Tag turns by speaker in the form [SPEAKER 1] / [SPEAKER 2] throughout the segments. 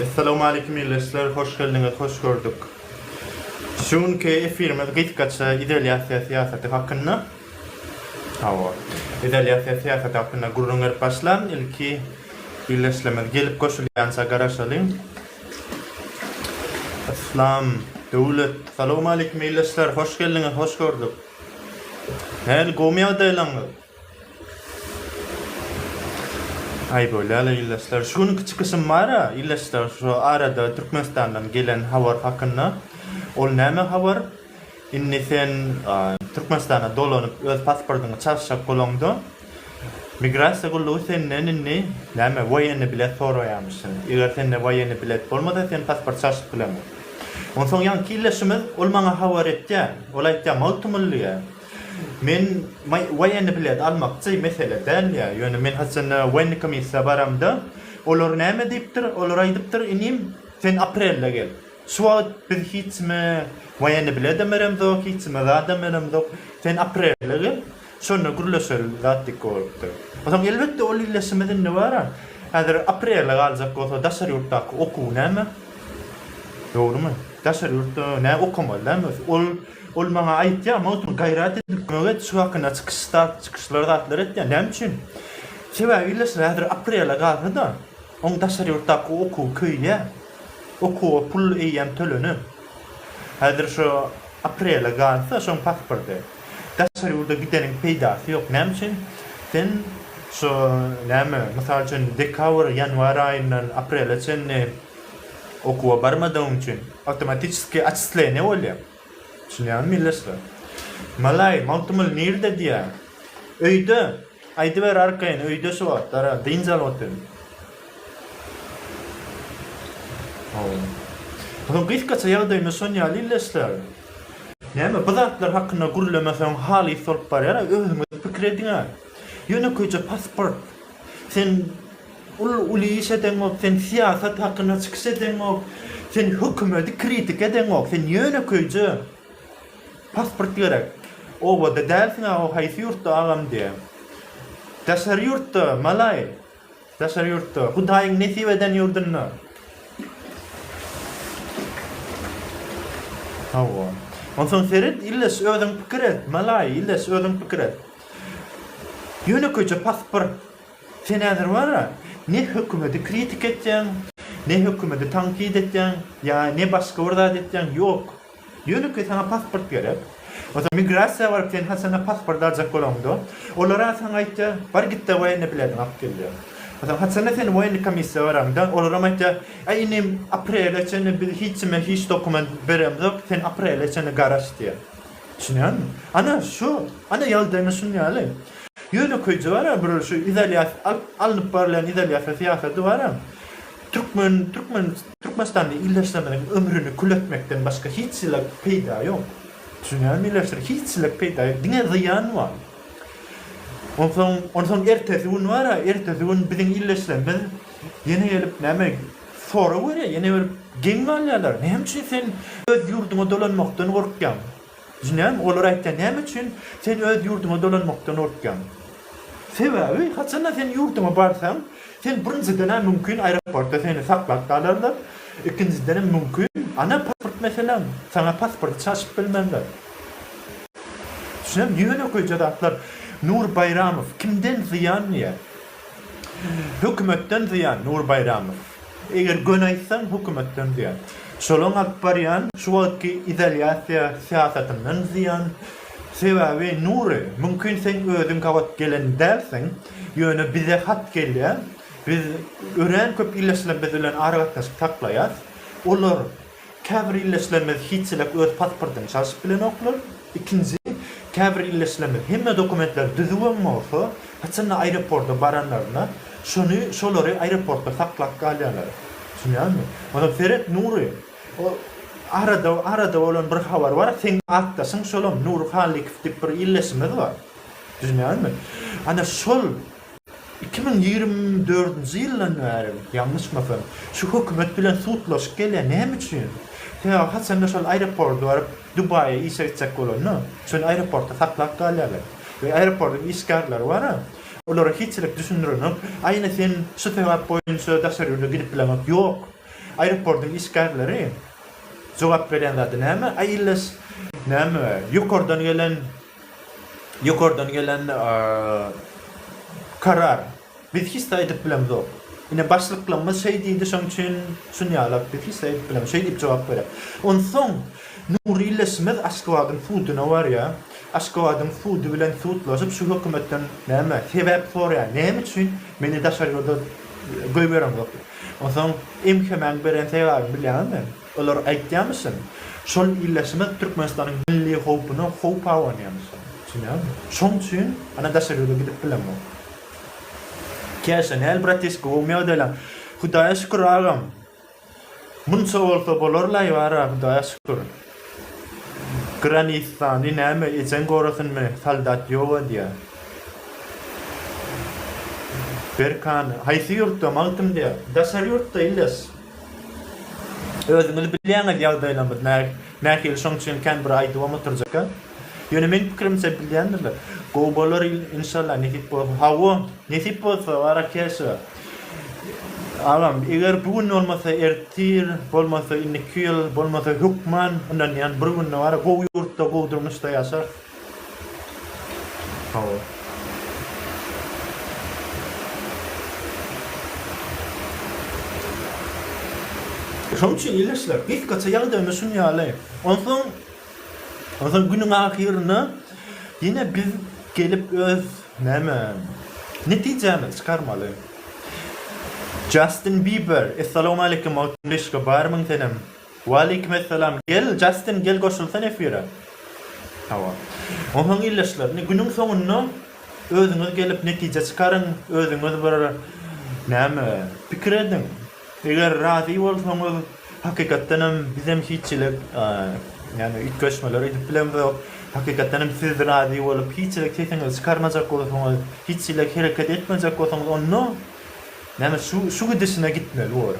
[SPEAKER 1] Essalawmaleýkim ildeşler hoş geldiňiz hoş gördük. Şu günki efirimiz gysgaça izolýasiýa syýasaty hakynda. Hawa. Izolýasiýa syýasaty hakynda gürrüň berip başlan ilki ildeşlerimiz gelip goşulýança garaşalyň. Yslam Döwlet Salawmaleýkim ildeşler hoş geldiňiz hoş gördük. Hany gowmy ýagdaýlaryňyz? Aý bolýala ildeşler şu günki çykyşym bara ildeşler şu arada Türkmenistandan gelen habar hakynda ol näme habar indi sen Türkmenistana dolanyp öz pasportyňy çalyşjak bolaňda Migrasiýa gullugy senden indi näme woýenny bilet soraýamyşyn. Eger sende woýenny bilet bolmasa sen pasport çalşyp bilemok. Onsoň ýaňky ildeşimiz ol maňa habar etýä. Ol aýtýa Magtymgulyýa. Men woýenny bilet almakçy mesele däl ýa. Ýöne men haçanda woýenny komissiýa baramda olar näme diýipdir. Olar aýdypdyr inim sen aprelde gel. Şu wagt biz hiç kime woýenny biledem beremzok hiç kime zadam beremzok. Sen aprelde gel. Şonda gürleşeli zat dik bolupdyr. Soň elbetde ol ildeşimiz indi bara, häzir aprele galjak bolsa daşary ýurtdaky okuw näme? Dogrymy? Daşary ýurtda nä okamaly dämi özi? Ol ol maňa aýtýar, Magtym gaýrat edip kömek et, şu hakynda çykyş zat, çykyşlar zatlar et diýýär. Näme üçin? Sebäbi ildeşler häzir aprele galsa-da, oň daşary ýurtdaky okuwy köýýär. Okuwa pul eýýäm tölenip. Häzir şu aprele galsa, şoň pasporty. Daşary ýurda gideniň peýdasy ýok. Näme üçin? Sen şu, näme, mysal üçin, dekabr, ýanwar aýyndan aprele çenli okuwa barmadygyň üçin awtomatiçeskiý atçisleniýe bolýar. Düşünýäňizmi, milletçiler? Malaý, Magtymguly nirde diýýär. Öýde. Aýdyber arkaýyn öýde şu wagtlara dynç alyp otyryn. Hawa. Gysgaça ýagdaýymy şon ýaly illeşdärin. Näme, bu zatlar hakynda gürlemeseň halys bolup barýar, özüňiz pikir ediň-ä. Ýönekeýje pasport. Sen uly iş edeňok, sen syýasat hakynda çykyş edeňok, sen hökümedi kritika edeňok, sen ýönekeýje Pasport gerek. Obada dälsiňä o haýsy ýurtda agam diýä. Daşary ýurtda malaý. Daşary ýurtda. Hudaýyň nesip eden ýurdunda. Hawa. Onsoň seret illeş özüň pikir et malaý illeş özüň pikir et. Ýönekeýje pasport. Sen häzir bara ne hökümedi kritik etýäň ne hökümedi tankyt etýäň ýa ne başga bir zat etýäň ýok. Ýöne ki saňa pasport gerek. Ozal migrasiýa baryp sen haçanda pasport aljak bolaňda, olara saňa aýtýar, bar gitde woýenny bilediňi alyp gel diýýär. Ozal haçanda sen woýenny komissiýa baraňda, olaram aýtýar, äý inim aprele çenli biz hiç kime hiç dokument beremzok, sen aprele çenli garaş diýýär. Düşünýäňmi? Ana şu, ana ýagdaýymyz şunuň ýaly. Ýöne köýji bar-a bir şu izolýasiýa alyp, alnyp barylýan izolýasiýa syýasaty bar-a. Türkmen, türkmen, türkmenistanly ildeşlerimiziň ömrüni kül etmekden başga hiç zile peýda ýok. Düşünýärmi ildeşler, hiç zile peýda ýok, diňe zyýan bar. Onsoň, onsoň ertesi gün bar-a, ertesi gün biziň ildeşlerimiz ýene gelip näme, sorag berýär, ýene gelip geň galýarlar, näme üçin sen öz ýurduňa dolanmakdan gorkýaň? Jynem, olar aýtýar, näme üçin sen öz ýurduňa dolanmakdan gorkýaň? Sebäbi, haçanda sen ýurduňa barsaň, sen birinjiden-ä mümkin aeroportda seni saklap galarlar, ikinjidenem mümkin, ana pasport meseleň, saňa pasporty çaşyp bilmerler. Jynem, ýönekeýje zatlar. Nur Baýramow, Kimden zyýan diýýär. Hökümetden zyýan, Nur Baýramow. Eger göni aýtsaň, hökümetden zyýan. Şolaň alyp barýan şu wagtky izolýasiýa syýasatyndan zyýan. Sebäbi Nury, mümkin sen özüň gabat gelen dälsiň, ýöne bize hat gelýär. Biz örän köp ildeşlerimiz bilen aragatnaşyk saklaýas. Olar Käbir illeşilerimiz hiç-çilek öz pasportyny çalşyp bilenoklar. Ikinji, käbir illeşilerimiz hemme dokumentleri düzüwem bolsa, haçanda aeroporta baranlarynda, şony, şolary aeroportda saklap galýarlar. Düşünýäňizmi? Onam seret, Nury! O, arada, arada bolan bir habar bar, seň atdaşyň şolam, Nury Hallykow diýip bir illeşimiz bar. Düşünýäňizmi? Ana, şol. Iki müň ýigrimi dördünji ýyldan bäri, ýalňyşmasam, şu hökümet bilen sudlaşyp gelýär. Näme üçin? Sebäbi haçanda şol aeropordy baryp, Dubaýa işe gitjek bolanda, şony aeroportda saklap galýarlar. We aeropordyň işgärleri bar-a, olara hiçilik düşündirenok. Aýna sen şu sebäp boýunça daşary ýurda gidip bileňok. Ýok. Aeropordyň işgärleri jogap berýän zady näme? Aý ille ş, näme, ýokardan gelen Ýokardan gelen karar. Biz hiç zat edip bilemzok. Ine, başlyklarymyz şeý diýdi, şonuň üçin şunýalak. Biz hiç zat edip bilemok. Şeý diýip jogap berýär. Onsoň Nury ildeşimiz Aşgabadyň suduna barýar. Aşgabadyň sudy bilen sudlaşyp, şu hökümetden näme, sebäp soraýar. Näme üçin meni daşary ýurda goýbereňzok diýip. Onsoň MHM-iň beren sebäbini bilýäňizmi? Olar aýtýamyşyn, şol illeşmek Türkmenistanyň milli howpuna howp abanýamyşyn. Düşünýäňmi? Şoň üçin ana daşary ýurda gidip bilemok. Käşä, näl bratişka, gowymy ýagdaýlaň? Hudaýa şükür agam. Munça bolsa bolarlaý bar-a, Hudaýa şükür. Granistany näme, ejeň gorasunmy, soldat ýok edýä. Berkany, haýsy ýurtda, Magtymda? Daşary ýurtda, illeş. Özüňiz bilýäňiz ýagdaýlarymyz nähili şoň üçin kän bir aýdybam oturjak-a. Ýöne meň pikirimçe bilýändirler. Gowy bolar inşallah nesip bolsa. Hawa, nesip bolsa bara keşe. Agam, eger bu gün bolmasa ertir, bolmasa indiki ýyl, bolmasa hökman ynanýan bir günde bara gowy ýurtda, gowy durmuşda ýaşarys. Hawa. Şonuň üçin ildeşler, gysgaça ýagdaýymyz şunuň ýaly. Onsoň, onsoň günüň ahyrynda ýene biz gelip öz, näme, netijämizi çykarmaly. Jastin Biber, Essalawmaleýkim, Magtymguly Şyka, barmyň senem? Waleýkimessalam gel Jastin gel goşulsan efire. Hawa. Onsoň ildeşler indi günüň soňunda özüňiz gelip netije çykaryň, özüňiz bir näme pikir ediň. Eger razy bolsaňyz hakykatdan hem biz hem hiç hili ýagny üýtgeşmeler edip bilemzok. Hakykatdan hem siz razy bolup hiç hili sesiňizi çykarmajak bolsaňyz, hiç hili hereket etmejek bolsaňyz onda Näme şu şu gidişine gitmeli bor.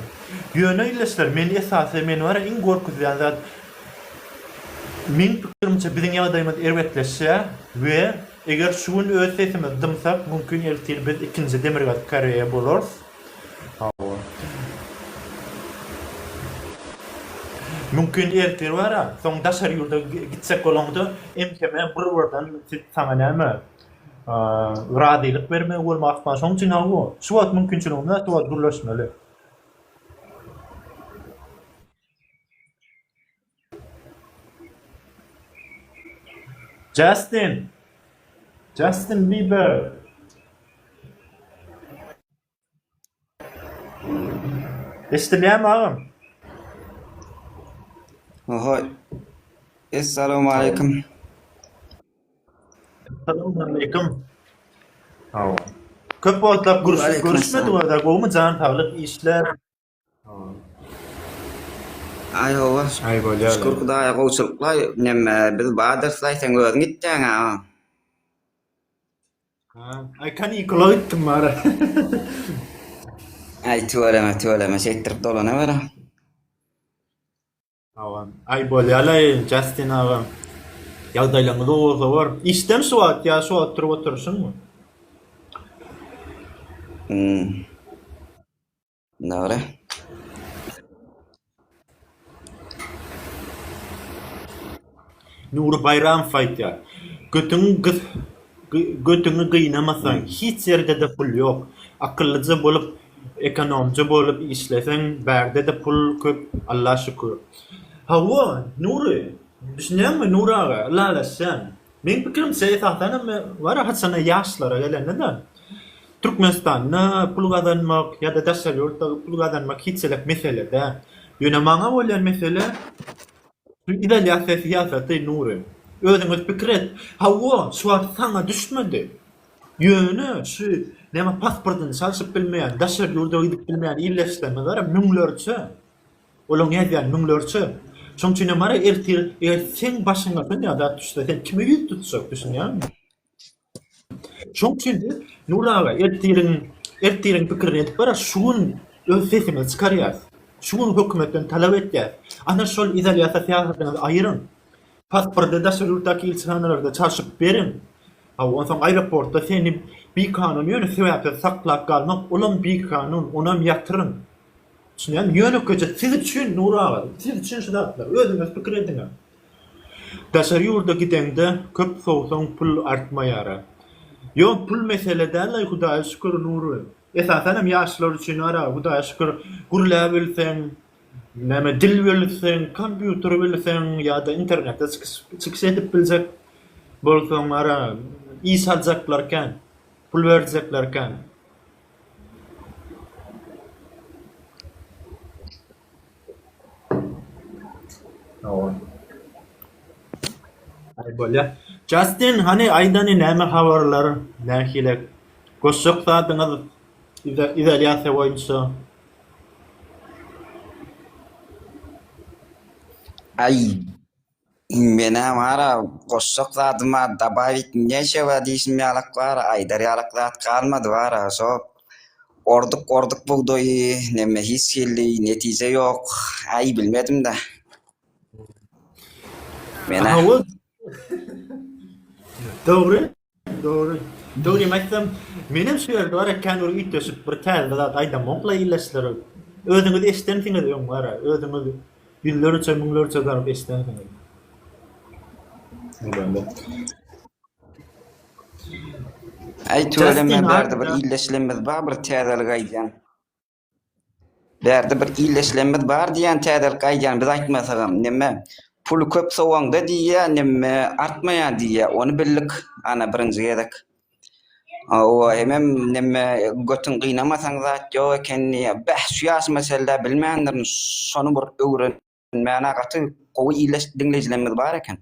[SPEAKER 1] Ýöne ildeşler meni esasy meni bar ya iň gorkuzýan zat meň pikirimçe biziň ýagdaýymyz erbetleşýä we eger şu gün öz sesimizi dymsak mümkin ertir biz ikinji demirgazyk koreýa bolarys hawa mümkin ertir bar ya soň daşary ýurda gitjek bolaňda entemem bir birden siz saňa näme razylyk bermegi bolmak ahmal. Şonuň üçin hawa, şu wagt mümkinçiligimiz bar, şu wagt gürleşmeli. Justin. Justin Bieber. Eşdilýärmi agam?
[SPEAKER 2] Oho. Essalawmaleýkim.
[SPEAKER 1] Essalawmaleýkim. Hawa. Köp wagtlap görüşmedik, görüşmedik,
[SPEAKER 2] gowumy
[SPEAKER 1] jan saglyk, işler.
[SPEAKER 2] Aý hawa. Aý bolýar. Şükür
[SPEAKER 1] Hudaýa gowçulykla
[SPEAKER 2] neme biz badyrys aý sen özüň gitjäň a. Ha,
[SPEAKER 1] aý kanikula gitdim bara.
[SPEAKER 2] Aý tüweleme tüweleme şeýtdirip dolanaber a.
[SPEAKER 1] Hawa. Aý bolýar aý Justin agam. Ýagdaýlaryňyz gowy bolsa bor. Işdemi şu wagt ýa şu wagt turup oturyşyňmy? Hmm.
[SPEAKER 2] Mine gara.
[SPEAKER 1] Nury Baýramow aýtýar. Götüňi gys götüňi gynamasaň hiç ýerde-de pul ýok. Akyllyja bolup, ekonomja bolup işleseň bärde-de pul köp Alla şükür. Hawa, Nury, düşünýäňmi Nury aga, ylalaşýan. Meň pikirimçe esasan hem bar haçanda ýaşlara gelende-de Türkmenistanda pul gazanmak ýa-da daşary ýurtda pul gazanmak hiç-hiç mesele däl. Ýöne maňa bolýan mesele şu izolýasiýa syýasaty Nury. Özüňiz pikir et. Hawa, şu wagt saňa düşmedi. Ýöne şu näme pasportyny çalşyp bilmeýän, daşary ýurda gidip bilmeýän ildeşlerimiz bar-a müňlerçe. Olaň nädýän müňlerçe. Şoň üçinem ara ertir eger seň başyňa şon ýaly zat düşse sen kime ýüz tutjak düşünýäňmi? Şoň üçin biz Nury aga ertiriň ertiriň pikirini edip bara şu gün öz sesimizi çykarýas. Şu gün hökümetden talap etýäs. Ana şol izolýasiýa syýasatyňyzy aýyryň. Pasporty daşary ýurtdaky ilçihanalarda çalşyp beriň. Hawa onsoň aeroportda seni bikanun ýöne sebäpsiz saklap galmak olam bikanun onam ýatyryň. Düşünýän, ýönekeje siz üçin Nury aga, siz üçin şu zatlar, özüňiz pikir ediňä. Daşary ýurda gideňde köp sowsaň pul artmaýara. Ýok pul mesele däl-aý Hudaýa şükür Nury. Esasanam ýaşlar üçin ara Hudaýa şükür gürläp bilseň, näme dil bilseň, kompýuter bilseň ýa-da internetde çykyş edip biljek bolsaň ara iş aljaklar kän, pul berjekler kän. Justin, hany aýdany näme habarlar, nähile goşjak zadyňyz izolýasiýa boýunça?
[SPEAKER 2] Aý. Menä bara goşjak zadym bar dabawit neşewa diýşim ýalak bara aýdar ýalak zat galmady bara şo orduk orduk bugdaýy neme hiç hilli netije ýok aý bilmedimda menä.
[SPEAKER 1] Dogry. Dogry. Dogrymy aýtsam, menem şu ýerde bar ekän bir üýtgeşik bir täze zat aýdamok la illeşler. Özüňiz eşdensiňiz öň bar, özüňiz ýüzlerçe, müňlerçe zarp eşdensiňiz.
[SPEAKER 2] Äý tüweleme bärde bir illeşlerimiz bar bir täzelik aýdýan. Bärde bir illeşlemmiz bar diýýän täzelik aýdýan biz aýtmasagam neme puly köp sowaňda diýýä neme artmaýa diýýä ony bildik ana birinji gezek owa hemem neme götün gynamasaň zat ýok eken diýýä bäh şu ýaşyma çenlä bilmändirin şony bir öwren Mäne gaty gowy iýleş diňleýjilerimiz bar eken.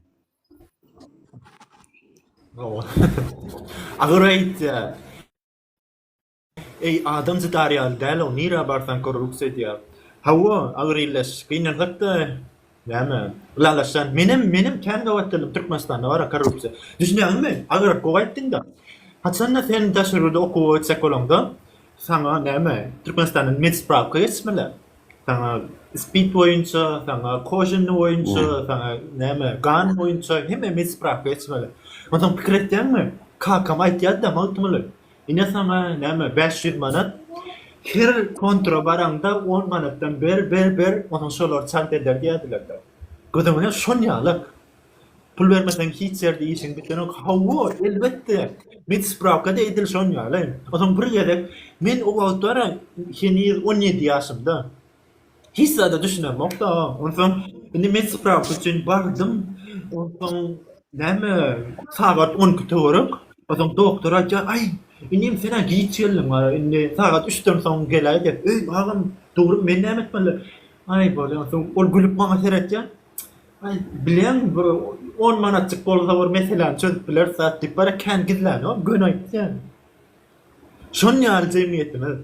[SPEAKER 1] Agyr aýtýar. Eý, adam zidar ýaly däl-ow, nirä barsaň korruksiýa edýär. Hawa, agyr illeş, gynansak-da, näme, ylalaşýan. Menem, menem kän gabat geldim, Türkmenistanda bar-a korruksiýa. Düşünýäňmi, agyr gowy aýtdyň-da. Haçan-da sen daş ýurda okuwa gitjek bolaňda, saňa, näme, Türkmenistandan medspravka geçmeli. Saňa ispit boýunça, saňa koženny boýunça, saňa, näme, gan boýunça hemme medspravka geçmeli. Onsoň pikir etýäňmi, kakam aýtýardy-da, Magtymguly, Ine saňa, näme, bäş ýüz manat. Her kontora baraňda on manatdan ber, ber, ber, onsoň şolar çalt eder diýerdiler-de. Gyzyň hem şol ýaly-ak. Pul bermeseň hiç ýerde işiň bitenok. Hawa, elbetde. Medspravka-da edil şoň ýaly. Onsoň bir gezek, men o wagtlar heniz on ýedi ýaşymda. Hiç zada düşünemokda. Onsoň indi men sprawka üçin bardym. Onsoň näme sagat 12 töwerek. Onsoň doktor aýtýar, "Aý, inim sen-ä giç geldiň, indi sagat 3-den soň geläý" diýip. Öý, agam, dogry men näme etmeli? Aý, bolýa. Onsoň ol gülüp maňa seretýär. Aý, bilýäňmi, bir on manatjyk bolsa bir meseläni çözüp bileris zat diýip, bara kän gizlänok, göni aýtdy ýaly. Şon ýaly jemgyýetimiz.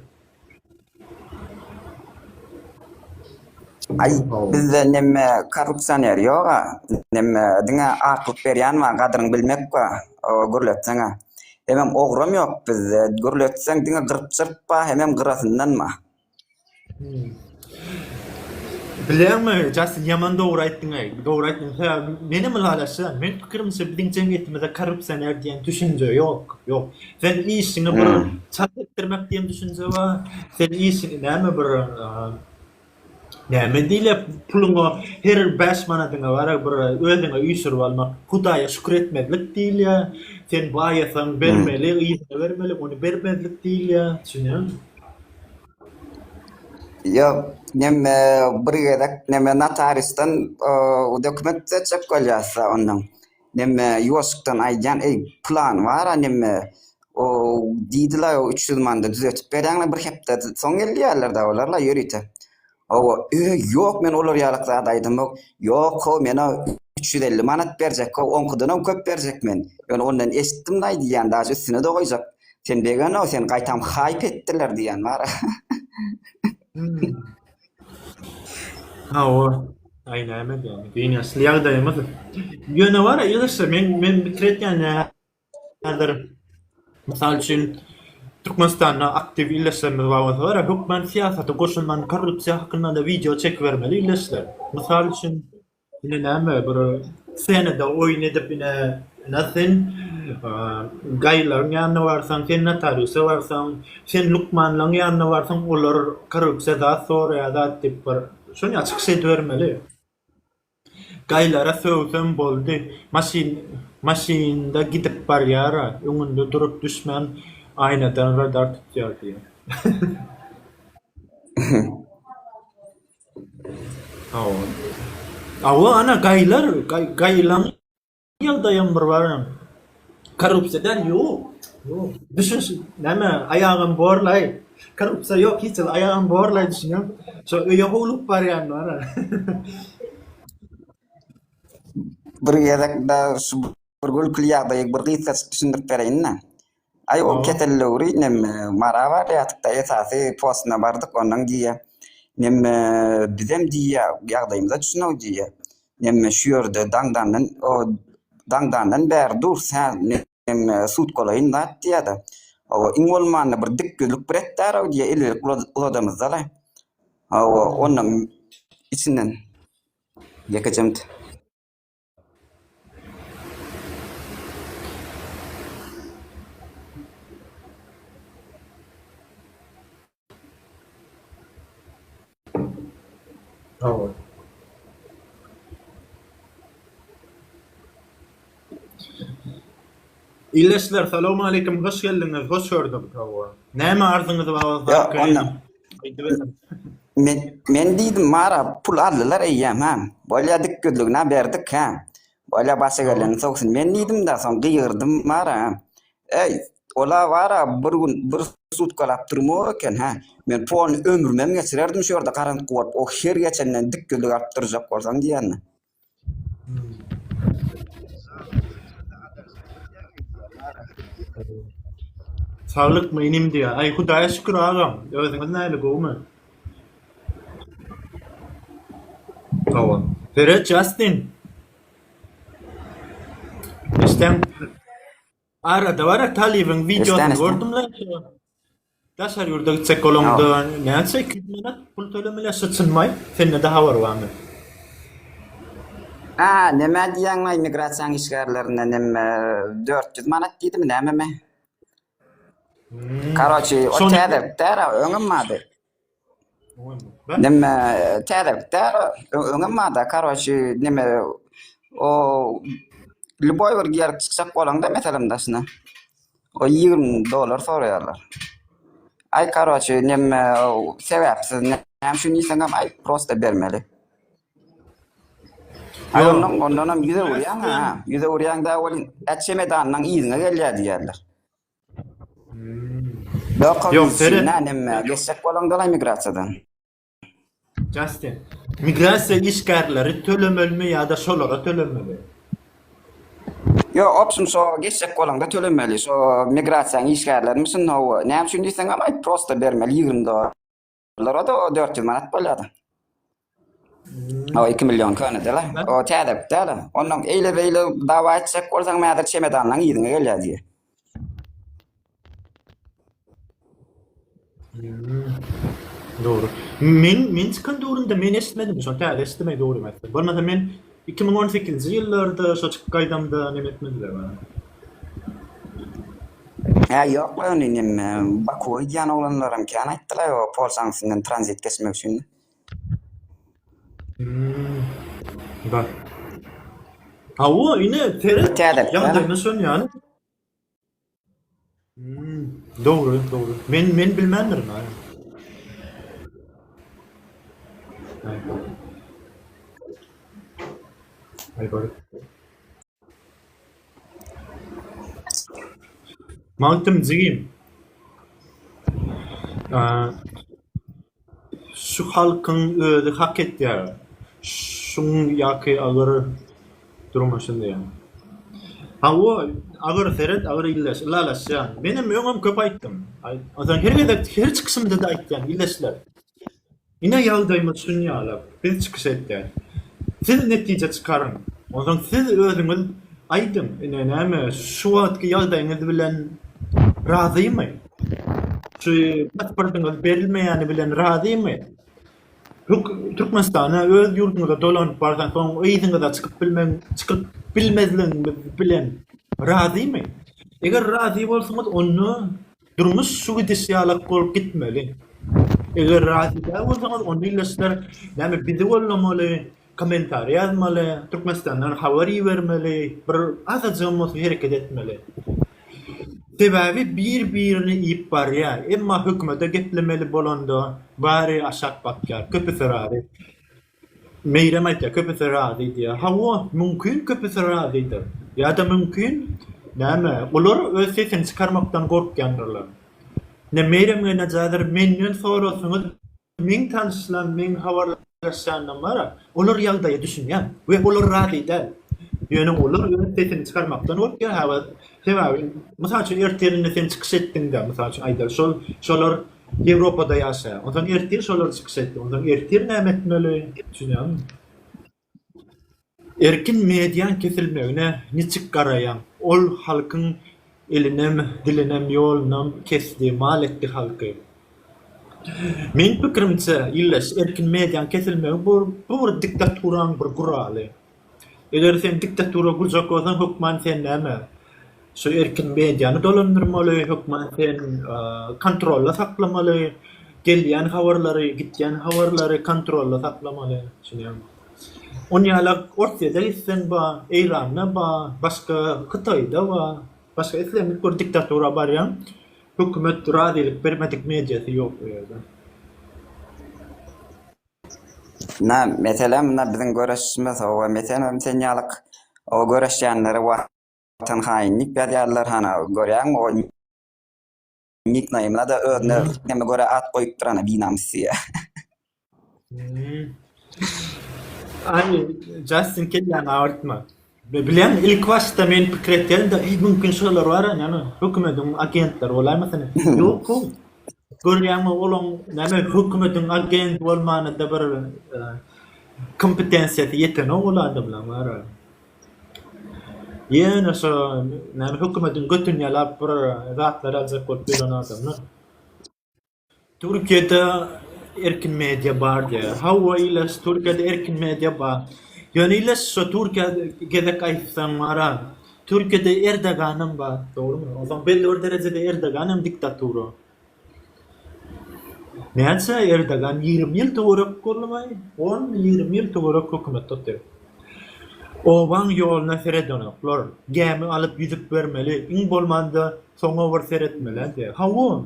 [SPEAKER 2] Aý, bizde neme korrupsioner ýog-a, neme diňe aklyk berýän bar, gadyryňy bilmek bar, gürletseň-ä. Hemem ogrum ýok bizde, gürletseň diňe gyrp-jyrp bar, hemem gyrasyndan bar.
[SPEAKER 1] Bilýäňmi, Jastin, ýaman dogry aýtdyň-aý. Dogry aýtdyň. Hä, menem ylalaşýan. Meniň pikirimçe, biziň jemgyýetimizde korrupsioner diýen düşünje ýok. Ýok. Sen işiňi bir çalt etdirmek diýen düşünje bar. Sen işiňi näme bir, näme diýilýär, puluňa her bäş manadyňa bäri bir özüňe üý sürüp almak, Hudaýa şükür etmezlik diýilýär. Sen baýasaň bermeli, yzyna bermeli, ony bermezlik diýilýär. Düşünýäňmi?
[SPEAKER 2] Ýok, neme bir gezek neme notariusdan dokument düzetjek bolýarsa, onnoň neme ýuwaşjykdan aýdýan, eý, plan bar-a neme, o diýdiler, üç ýüz manda düzetip berýäňmi, bir hepdeden soň gelýärler-dä olar-la ýörite. Hawa, öý, ýok, men olar ýalyk zat aýdamok. Ýok-ow, men-ä üç ýüz elli manat berjek-ow, oňkudanam köp berjek men. Men ondan eşitdim-de aýdylýan, daşy üstüne-de goýjak. Sen begano sen gaýtam hype etdiler diýen bar.
[SPEAKER 1] Hawa. Aý näme diýýän. Gynançly ýagdaýymyz. Ýöne bar ya ýygyrsa men men bitiretýän ya. Häzir mysal üçin Türkmenistanda aktiw ildeşlerimiz bar bolsa bar ya hökman syýasata goşulman korrupsiýa hakynda da wideo çekibermeli ildeşler. Mysal üçin Ine näme bir senada oýun edip ine ina sen gaýylaň ýanyna barsaň sen notariusa barsaň sen lukmanlaň ýanyna barsaň olar korrupsiýa zat soraýar zat diýip bir şony çykyş edibermeli gaýylara söwsem boldy maşyn maşynda gidip barýara öňünde durup düşmän aýnadan radar tutýar diýip. Hawa, ana, gaýylar, gaýylaň ýagdaýam bir barem, korrupsiýa däl, ýok, düşünşi, näme, aýagam borlaý, korrupsiýa ýok, hiç zat, aýagam borlaý, düşünem, şo öýe howlugyp barýan bara.
[SPEAKER 2] Bir gezek-de şu bir gülküli ýagdaýy bir gysgaçyk düşündirip bereýin-dä. Ay o Aa. ketel döwri nemme mara barýardyk da esasy postuna bardyk ondan diýýä. Nemme bizem diýýä ýagdaýymyza düşünew diýýä. Nemme şu ýerde daňdandan o daňdandan bäri durus hä nemme sutkalaýyn zat diýýä-de. Hawa iň bolmanda bir dik ýüzlük bir etdäraw diýýä il berip ula- uladamyzda-la. Hawa ondan içinden ýekeje minut.
[SPEAKER 1] Aww. Ildeşler salowmaleýkim hoş geldiňiz hoş gördük. Aww. Näme arzyňyz bar bolsa aýdyp göreliň.
[SPEAKER 2] Men, men diýdim, Mara, pul aldylar eýýäm, hä? Bolýa, dik gözlügin-ä berdik, hä? Bolýa, başa geleniň sogsun. Men diýdim-de, soň gygyrdym, Mara, hä? Eý, ol-a bar-a, bir gün bir sutkalap durmok eken, hä? Men polny ömrümem geçirerdim şu ýerde garantgy bolup, o her geçenden dik gözlük alyp durjak bolsaň diýende.
[SPEAKER 1] Saglykmy inim diýýär. Aý Hudaýa şükür agam. Özüňiz näle gowumy? Hawa. Peret Jastin. Işdäň. Arada bara talybyň wideosyny Rüstem, Rüstem. gördüm-le. Daşary ýurda gitjek bolaňda näçe iki ýüz manat pul tölemeli şu çynmaý sendede habar barmy.
[SPEAKER 2] A näme diýýäň maý migrasiýaň işgärlerine näme dört ýüz manat diýdimi nämemi. Karoçi o täze tära öňem bardy. Neme täzelik däl o. Öňem barda karoçi neme o lüboý bir ýer çykjak bolaňda meselem daşyna. O 20 dollar soraýarlar. Aý karoçi neme sebäpsiz näme üçin diýseňem aý prosta bermeli. Aý ondan ondanam ýüze urýaň ha. Ýüze urýaňda welin äçemedanyň yzyňa gelýär diýýärler. Ýok, seret. Geçjek bolaňdalar migrasiýadan.
[SPEAKER 1] Justin. Migrasiýa işgärleri tölemelimi ýa-da şolara tölemeli?
[SPEAKER 2] Ýo, opşum şo geçjek bolaňda tölemeli. Şo migrasiýanyň işgärlerimi şunda näme üçin diýseňem aýt, prosta bermeli ýigrimi dollar. Lara da o 400 manat bolýardy. O 2 milyon köne dela. O täze dela. Ondan eyle beyle dava etjek bolsaň mädir çemedanlaň ýerine gelýär diýýär.
[SPEAKER 1] Dogry. Men men çykan döwrümde men eşitmedim. Şonda täze eşitmek dogry emas. Bolmasa men Iki müň on sekizinji ýyllarda şo çykyp gaýdamda neme etmedilermi?
[SPEAKER 2] Hä ýok ony neme Bakuwa gidýän oglanlaram kän aýtdylaý o Polşanyň üstünden tranzit geçmek üçin. Hmmm
[SPEAKER 1] bar. Hawa ine seret ýagdaýyna şon ýaly. Dogry, dogry. Men men bilmändirin aýa. Aý bar. Magtym jigim. Aa. Şu halkyň özi hak etýär şuň ýaky agyr durmuşyn diýýän. Hawa, agyr, seret, agyr illeş, ylalaşýan. Menem öňem köp aýtdym. Aýtmasam, her gezek, her çykyşymda-da aýtýan, illeşler. Ine ýagdaýymyz şun ýaly, biz çykyş etýäs. Siz netije çykaryň. Onsoň siz özüňiz aýdyň, ine näme, şu wagtky ýagdaýyňyz bilen razymy? Şu pasportyňyz berilmeýäni bilen razymy? Türkmenistana öz ýurduňyza dolanyp barsaň, soň yzyňyza çykyp bilmeň, çykyp bilmezligiňiz bilen razymy? Eger razy bolsaňyz, onda durmuş şu gidişi ýalak bolup gitmeli. Eger razy däl bolsaňyz, onda ille sizler näme bizi goldamaly, Kommentariý ýazmaly, Türkmenistandan habar ibermeli, bir azajygam bolsa hereket etmeli. Sebäbi bir birini iýip barýar, emma hökümede geplemeli bolanda bary aşak bakýar, köpüsi razy. Meýrem aýtýar köpüsi razy diýýär. Hawa, mümkin köpüsi razydyr. Ýa-da mümkin näme, olar öz sesini çykarmakdan gorkýandyrlar. Ine Meýrem geýnäjadyr menden sorasyňyz Meň tanyşlaryň, meň habarlaşýanlaram olar ýagdaýa düşünýär we olar razy däl. Ýöne olar öz sesini çykarmakdan gorkýar haba. Sebäbi, mysal üçin, ertirine sen çykyş etdiňde, mysal üçin, aýdaly, şol, şolar Ýewropada ýaşaýar. Onsoň ertir şolar çykyş etdi. Onsoň ertir näme etmeli? Düşünýäňmi? Erkin mediaň kesilmegine niçik garaýaň? Ol halkyň elinem, dilinem, ýolunam kesdi, mal etdi halky. Meň pikirimçe, Ildeş, erkin mediaň kesilmegi bu bir diktaturaň bir guraly. Eger sen diktatura gurjak bolsaň, hökman sen näme? Şu erkin mediany dolandyrmaly, hökman sen kontrolda saklamaly, gelýän habarlary, gitýän habarlary kontrolda saklamaly. Ony ýaly Orsýede gitseň bar, Eýranda bar, başga Hytaýda bar, başga islendik bir diktatura barýaň, hökümet razylyk bermedik mediasy ýok o ýerde. Munna
[SPEAKER 2] mesele munna biziň göreşişimiz, o mesele sen ýaly o göreşýänleri wagt. Watan haýyn nik ýazýarlar hana görýäňmi o nik naýmyna-da özüne näme görä at goýupdyr ana binamys diýýä.
[SPEAKER 1] Aý Justin kelläňi agyrtma. Bileň ilk başda men pikir etýärin-de, mümkin şular bar, ýagny hökümediň agentleri bolaýmasyn? Ýok-ow. Görýäňmi olaň näme hökümetiň agent bolmanada bir kompetensiýasy ýetenok ol adamlaň bara. Ýene şo näme hökümetiň götüni ýalap bir zatlar aljak bolup ýören adamlar. Türkiýede erkin media bar diýýär. Hawa iles Türkiýede erkin media bar. Ýöne iles şo Türkiýe gezek aýtsaň bara Türkiýede Erdoganam bar dogrymy? Onsoň belli bir derejede Erdogan hem diktatura. Näçe Erdogan ýigrimi ýyl töwerek boldumy? On ýigrimi ýyl töwerek hökümet tutdy. Obaň ýoluna seredenoklar. Gämi alyp ýüzüp bermeli, iň bolmanda soňa bir seretmeli. Hawa.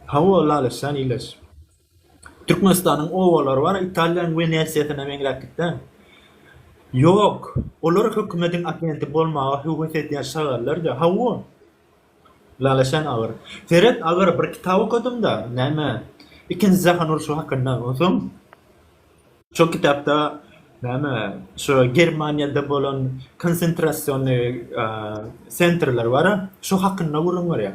[SPEAKER 1] Hawa Laleşjan ileş. Türkmenistanyň obalary bar, Italiýanyň Wenesiýasyna meňzäp gitseň. Ýok, olar hökümediň agenti bolmaga höwes edýän şagallarja. Hawa. Lala sen agyr. Seret agyr, bir kitap okadym-da, näme, ikinji jahan urşy hakynda, onsoň. Şo kitapda näme şo Germaniýada bolan konsentrasionny sentrler bar-a, şo hakynda gürrüň berýär.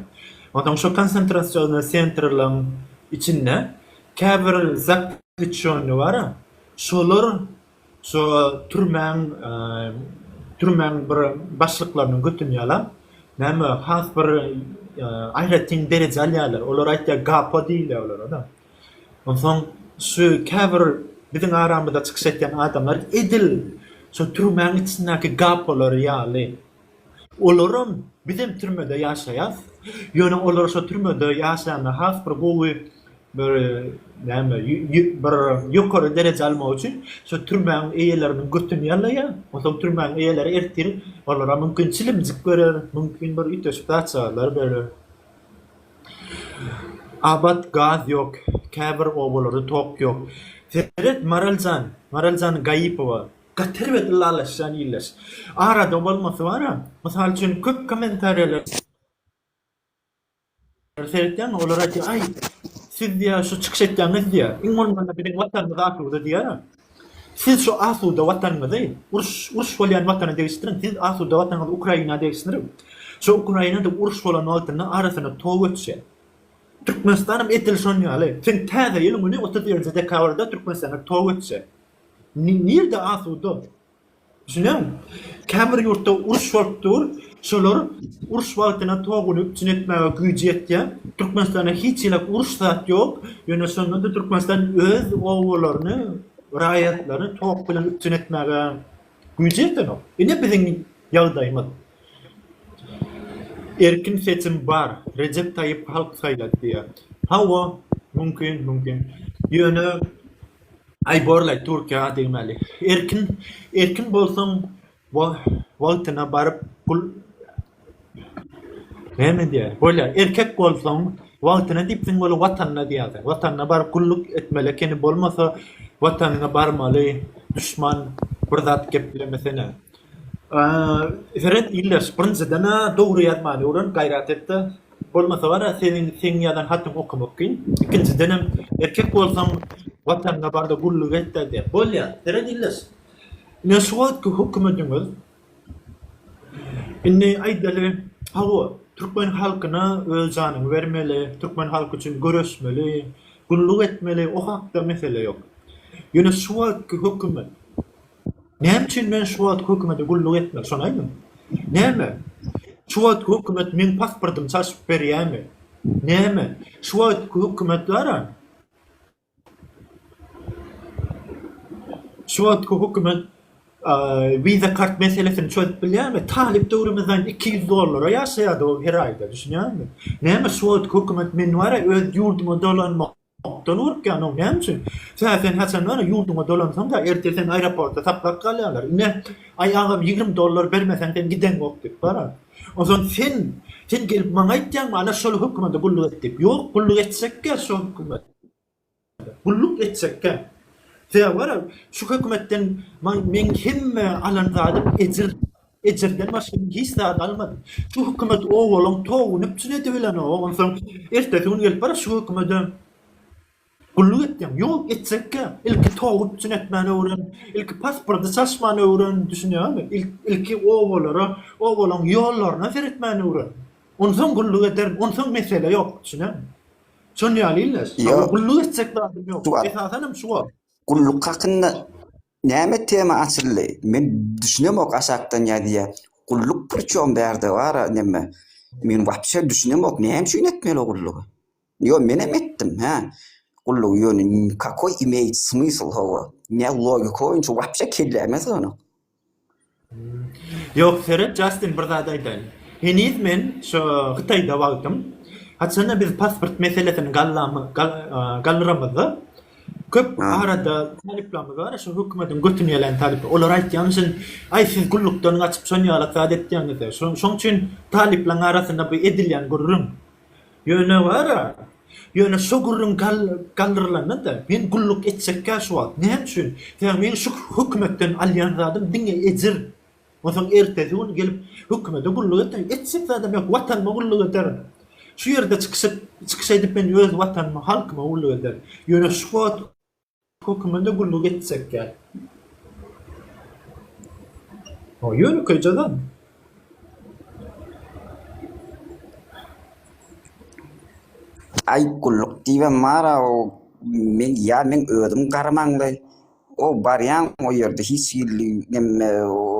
[SPEAKER 1] Onsoň şo konsentrasionny sentrleriň içinde käbir zapluçýonny bar-a, şolar şo türmäň türmäň bir başlyklarynyň götüni ýalap, näme has bir aýratyn dereje alýarlar. Olar aýtýar gapo diýilýär olara-da. Onsoň şu käbir biziň aramyzda çykyş etýän adamlar edil şo türmäň içindäki gapolar ýaly. Olaram, bizem türmede ýaşaýas. Ýöne olar şo türmede ýaşaýanda has bir gowy bir näme bir ýokary dereje almak üçin şo türmäň eýeleriniň götüni ýalaýar. Onsoň türmäň eýeleri ertir olara mümkin çilimjik berer, mümkin bir üýtgeşik zatjagazlar berer. Abat gaz ýok käbir obalarda tok ýok seret Maraljan Maraljan Gaýypowa gaty erbet ylalaşýan ildeş arada bolmasy bara mysal üçin köp kommentariýalar seretýän olar aýdýar aý siz diýýär şu çykyş etýäňiz diýýär iň bolmanda biziň watanymyz asuda diýýär. Siz şu asuda watanymyzy uruş uruş bolýan watana degişdiriň siz asuda watanyňyzy Ukraina degişdiriň şu Ukrainada uruş bolan wagtynda arasyna tow göçse Türkmenistanam edil şon ýaly sen täze ýylyň güni otuz birinji dekabrda Türkmenistana tow göçse nirde asuda Düşüneň, käbir ýurtda uruş bolup dur, şolar uruş wagtyna toguny üpjün etmäge güýji ýetýär. Türkmenistanda hiç hili uruş zat ýok, ýöne şonda-da Türkmenistan öz obalaryny, raýatlaryny tok bilen üpjün etmäge güýji ýetenok. Ine biziň ýagdaýymyz. Erkin seçim bar, Rejep Taýyp halk saýlady diýýär. Hawa, mümkin, mümkin. Ýöne Aý borlaý Türkiýä degmeli. Erkin erkin bolsaň wagtyna baryp pul Näme diýýär? Bolýar. Erkek bolsaň wagtyna dipsiň bolup watanyna diýýärsiň. Watanyna baryp gulluk etmeli ekeni bolmasa watanyňa barmaly duşman bir zat geplemesene. Seret ildeş birinjiden-ä dogry ýazmany öwren gaýrat etde. Bolmasa wara seniň seň ýazan hatyň okamak kyn. Ikinjidenem erkek bolsaň watanyňa barda gulluk etde diýýär. Bolýa seret ildeş. Ine şu wagtky hökümediňiz indi aýdaly hawa türkmen halkyna öz janyňy bermeli, türkmen halky üçin göreşmeli, gulluk etmeli o hakda mesele ýok. Ýöne şu wagtky hökümet. Näme üçin men şu wagt hökümete gulluk etmeli, şony aýdyň? Näme? Şu wagt hökümet meň pasportymy çalşyp berýärmi? Näme? Şu wagt hökümet bara? Şu wagt hökümet wiza kart meselesini çözüp bilýärmi? Talyp döwrümizden 200 dollara ýaşaýardy ol her aýda, düşünýärmi? Näme şu wagt hökümet meni bara öz ýurduma dolanmak Gapdal bolupkändoň näme üçin? Sä sen haçan gara ýurduňa dolansaň-da, erte seni aeroportda saklap galýarlar. Ine, aý agam ýigrimi dollar bermeseň sen gideňok diýip bara. Onsoň sen, sen gelip maňa aýtýaňmy ana şol hökümede gulluk et diýip. Ýok, gulluk etjekkä şo hökümede. Gulluk etjekkä. Sä gara şu hökümetden maň meň hemme alan zadym ejir. Ejirden başga men hiç zat almadym. Şu hökümet owalyň towuny üpjün edibilenok, onsoň ertesi gün gelip bir şu hökümede gulluk etseň, ýok, etjekkä. Ilki towy üpjün etmäni öwren, ilki pasporty çalşmany öwren, düşünýäňmi? Ilki owalara, owalyň ýollaryna seretmäni öwren. Onsoň gulluk ederin, onsoň mesele ýok, düşüneňmi? Şonuň ýaly ildeş. Ýok. Gulluk etjek zadym ýok. Esasanam şu bor. Gulluk hakynda
[SPEAKER 2] Näme tema açyldy men düşünemok aşakdan ýazýa gulluk priçom bärde bara näme men wapşe düşünemok näme üçin etmeli gullugy ýo menem etdim hä gullugy ýöne kakoý imeýt smysl hawa nä logika boýunça wapşe kelläme sygynok.
[SPEAKER 1] Ýok seret Jastin bir zat aýdaýyn. Heniz men şo Hytaýda wagtym, haçanda biz pasport meselesini gallamy gallyramyzda köp arada talyplarymyz bar şo hökümediň götüni ýalän talyplar. Olar aýtýar müşin aý siz gullukdan gaçyp şon ýalak zat etýäňizde şoň şoň üçin talyplaň arasynda bu edilýän gürrüň Ýöne gara, ýöne şo gürrüň galdyrylanda-da, men gulluk etjekkä şu wagt. Näme üçin? Sebäbi meň şu hökümetden alýan zadym diňe ejir. Onsoň ertesi gün gelip hökümete gulluk etjek. Etjek zadam ýok. Watanyma gulluk ederin. Şu ýerde çykyş edip men öz Watanyma, halkyma gulluk ederin. Ýöne şu wagt. Höküminde gulluk etjekkä. O ýönekeý jaza.
[SPEAKER 2] Aý gulluk diýibem bar-a o men ýa men özüm garamaňly. O barýaň o ýerde hiç hili neme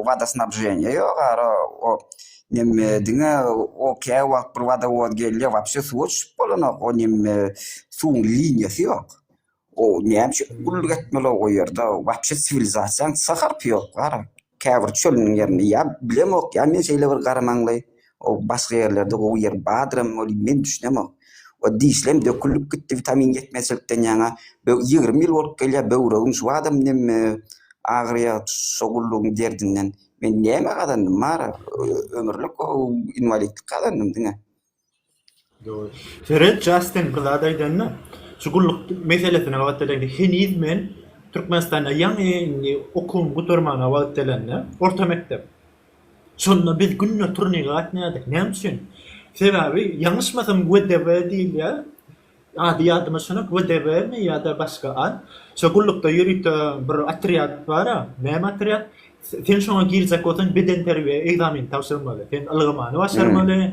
[SPEAKER 2] wadoznabženiýa ýok ara o neme diňe o kä wagt bir wadowoz gelýär wapşe suwa çüşüp bolanok o neme suwuň liniýasy ýok. Gowy näme üçin gulluk etmeli o ýerde wapşe siwilizasiýaň ts harpy ýok gara käbir çölüniň ýerinde ýa bilemok ýa men şeýle bir gara maňlaý o başga ýerlerde gowy ýer badyrem welin men düşünemok we dişlem dökülip gitdi witamin ýetmezçilikden ýaňa böw ýigrimi ýyl bolup gelýär böwregim şu badam nem agyrýar şo gullugyň derdinden men näme gazandym mara ömürlik inwalidlik gazandym diňe.
[SPEAKER 1] Seret Jastin bir zat aýdanda şu gulluk meselesine gabat gelende heniz men Türkmenistanda ýaňy indi okuwymy gutarmana wagt gelende orta mekdep şonda biz günde turnika gatnaýardyk näme üçin sebäbi ýalňyşmasam WDW diýilýär Ady ýadyma şonok, WDW-mi ýa-da başga at. Şo gullukda ýörite bir otrýad bar-a. Näme otrýad? Sen şoňa girjek bolsaň, bedenterbiýe ekzameni tabşyrmaly. Sen ylgamany başarmaly,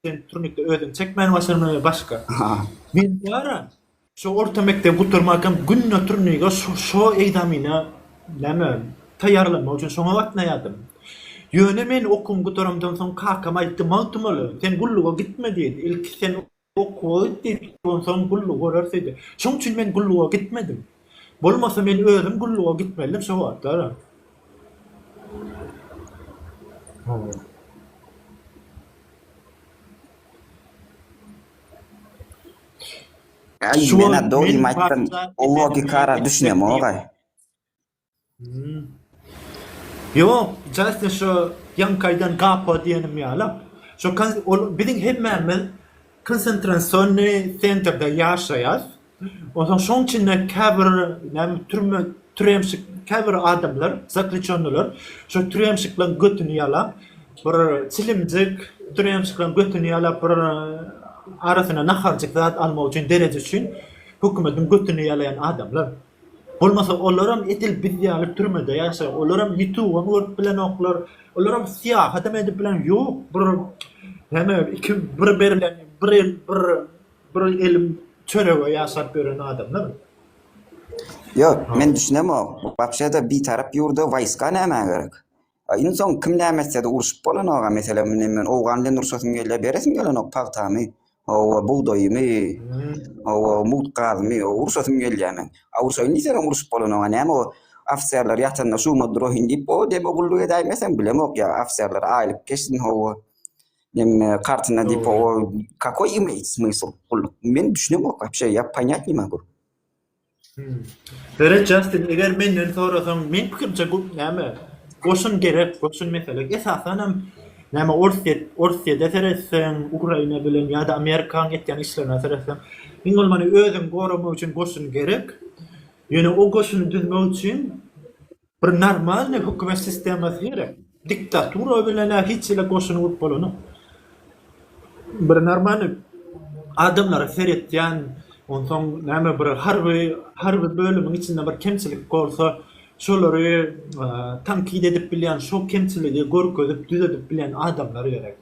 [SPEAKER 1] sen turnikde özüňi çekmäni başarmaly we başga. Men bar-a, şo orta mekdebi gutarmakam günde turnige şo ekzamene, näme, taýýarlanmak üçin şoňa gatnaýardym. Ýöne men okuwymy gutaramdan soň kakam aýtdy, Magtymguly, sen gulluga gitme diýdi. Ilki sen Okuwa git diýipdi, onsoň gullugy görers diýdi. Şoň üçin men gulluga gitmedim. Bolmasa men özüm gulluga gitmelidim şo wagtlar.
[SPEAKER 2] Şu wagt men Bathyza
[SPEAKER 1] Esengulyýewa
[SPEAKER 2] diýip.
[SPEAKER 1] Ýok, Jastin şo ýaňkaýdan gapa diýenim ýaly. Şo kon ol biziň hemmämiz konsentrasiony sentrde ýaşaýas. Onsoň şoň içinde käbir näme türme türemşik käbir adamlar zakliçennolar şo türemşikleň götüni ýalap bir çilimjik türemşikleň götüni ýalap bir arasyna naharjyk zat almak üçin dereje üçin hökümetiň götüni ýalaýan adamlar. Bolmasa olaram edil biz ýaly türmede ýaşar, olaram ýutubam görüp bilenoklar, olaram syýahatam edip bilen ýok, bir heme iki bir berlen bir el bir bir elim çörege ýaşap ýören adamlar.
[SPEAKER 2] Ýok, men düşünemok, wapşe-de bitarap ýurda waýska nämä gerek? A in soň kim näme etsede urşup bolanok-a, meselem indi men owgan bilen urşasym gelýär, beresim gelenok pagtamy, hawa, bugdaýymy, hawa, mugt gazymy, hawa, urşasym gelýär men. A urşaýyn diýseňem urşup bolanok-a, näme o ofiserler ýatanda şuma duraýyn diýip, o deme gulluk edäýmesem bilemok ýa ofiserler aýlyk geçsin, hawa, neme kartyna diýip, hawa, kakoý imeýt smysl gulluk, men düşünemok wapşe, ýa ponýat ni magu.
[SPEAKER 1] Berit Justin eger menden sorasaň meň pikirimçe bu näme goşun gerek goşun mesele esasanam näme orsyýe orsyýede seretseň ukraina bilen ýa-da amerikaň etýän işlerine seretseň iň bolmany özüňi goramak üçin goşun gerek ýöne o goşuny düzmek üçin Bir normalny hökümet sistemasy gerek. Diktatura bilen a hiç hili goşuny gurup bolanok. Bir normalny adamlara seretýän, onsoň näme bir harby harby bölümiň içinde bir kemçilik bolsa, şolary tankit edip bilýän, şo kemçiligi görkezip düzedip bilýän adamlar gerek.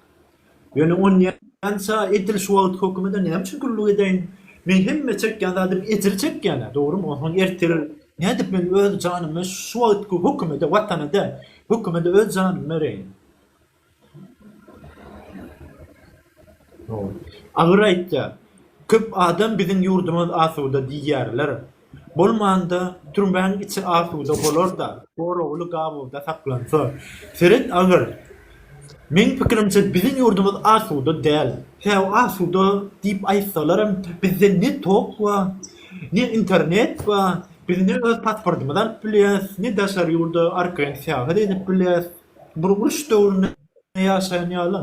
[SPEAKER 1] Ýöne onýança edil şu wagt hökümede näme üçin gulluk edeýin? Men hemme çekýän zadym ejir çekýän-ä, dogrumy? Onsoň ertir nädip men öz janymy şu wagtky hökümede, Watana däl, hökümede öz janymy bereýin? Agyr aýtýar. Köp adam biziň ýurdumyz asuda diýýärler. Bolmanda, türmäň içi asuda bolar-da, goragly gabawda saklansa. Seret agyr. Meň pikirimçe, biziň ýurdumyz asuda däl. Sebäbi asuda diýip aýtsalaram, bizde ne tok bar, ne internet bar. Biz ne öz pasportymyzy alyp bilýäris, ne daşary ýurda arkaýyn syýahat edip bilýäris. Bir uruş döwründe ýaşaýan ýaly.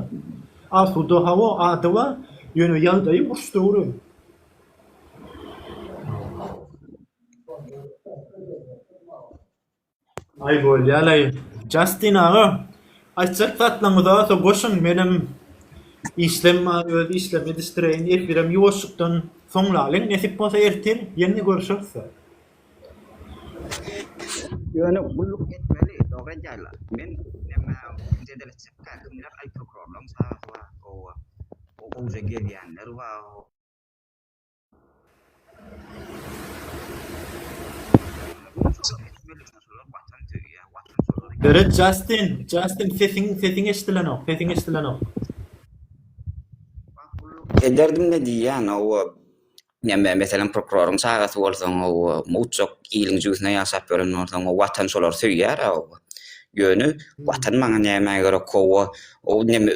[SPEAKER 1] Asuda, hawa, ady bar, ýöne ýagdaýy uruş döwri. Aý bolýalaý Justin aga aýtjak zatlaňyz bolsa goşuň menem işlem bar öz işlemi ýetişdireýin efirem ýuwaşjykdan soňlalyň nesip bolsa ertir ýene görşeris.
[SPEAKER 2] Ýöne gulluk etmeli dogry edýärler. Men näme jedel etjek käkimdir aý prokurorlaň çagasy bar oba o gowja gelýänler bar.
[SPEAKER 1] Red Justin, Justin sesiň sesiň eşidilenok, sesiň eşidilenok.
[SPEAKER 2] Ederdim ne diýýän owa. Näme meselem prokuroryň çagasy bolsaň owa, mowçak iliň jübüsine ýaşap ýören bolsaň owa watan şolary söýýär owa. Ýöne watan maňa näme gerek owa. O neme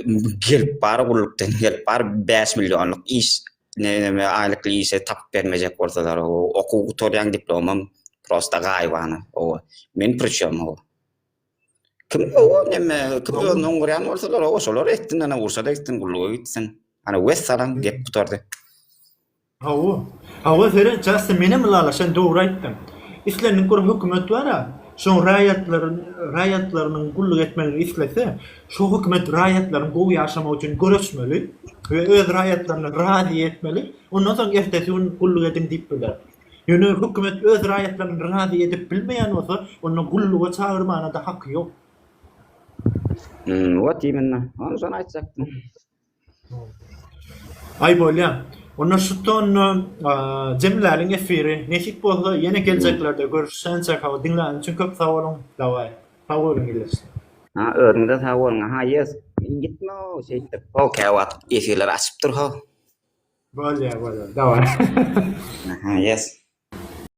[SPEAKER 2] gelip bar gullukdan gelip bar 5 millionlyk iş neme aylyk işe tapyp bermejek bolsalar o okuw gutaryan diplomam prosta gaybana o men prıçom o kim o neme kim özünden guryan bolsalar o şolar etsin ana ursa da etsin gulluğa gitsin ana wes salam gep gutardy Hawa,
[SPEAKER 1] hawa seret Jastin menem ylalaşan sen dogry aýtdyň. Islendik bir hökümet bara, şoň raýatlary raýatlarynyň gulluk etmegini islese, şo hökümet raýatlaryň gowy ýaşamagy üçin göreşmeli we öz raýatlaryny razy etmeli, ondan soň ertesi gün gulluk ediň diýip biler. Ýöne hökümet öz raýatlaryny razy edip bilmeýän bolsa, onda gulluga çagyrmana-da haky ýok. Hmmm,
[SPEAKER 2] wot imenna. Hany şony aýtjakdym.
[SPEAKER 1] Aý bolýa. Onda şu tonna jemläliň efiri. Nesip bolsa ýene geljeklerde görüşýäs çaga diňläniň üçin köp sag boluň. Daway. Sag boluň ildeş. Ha özüňize
[SPEAKER 2] sag boluň aha yes gitme ow şeýtdip ho käwagt efirler açyp dur ho. Bolýa bolýa daway. Aha yes.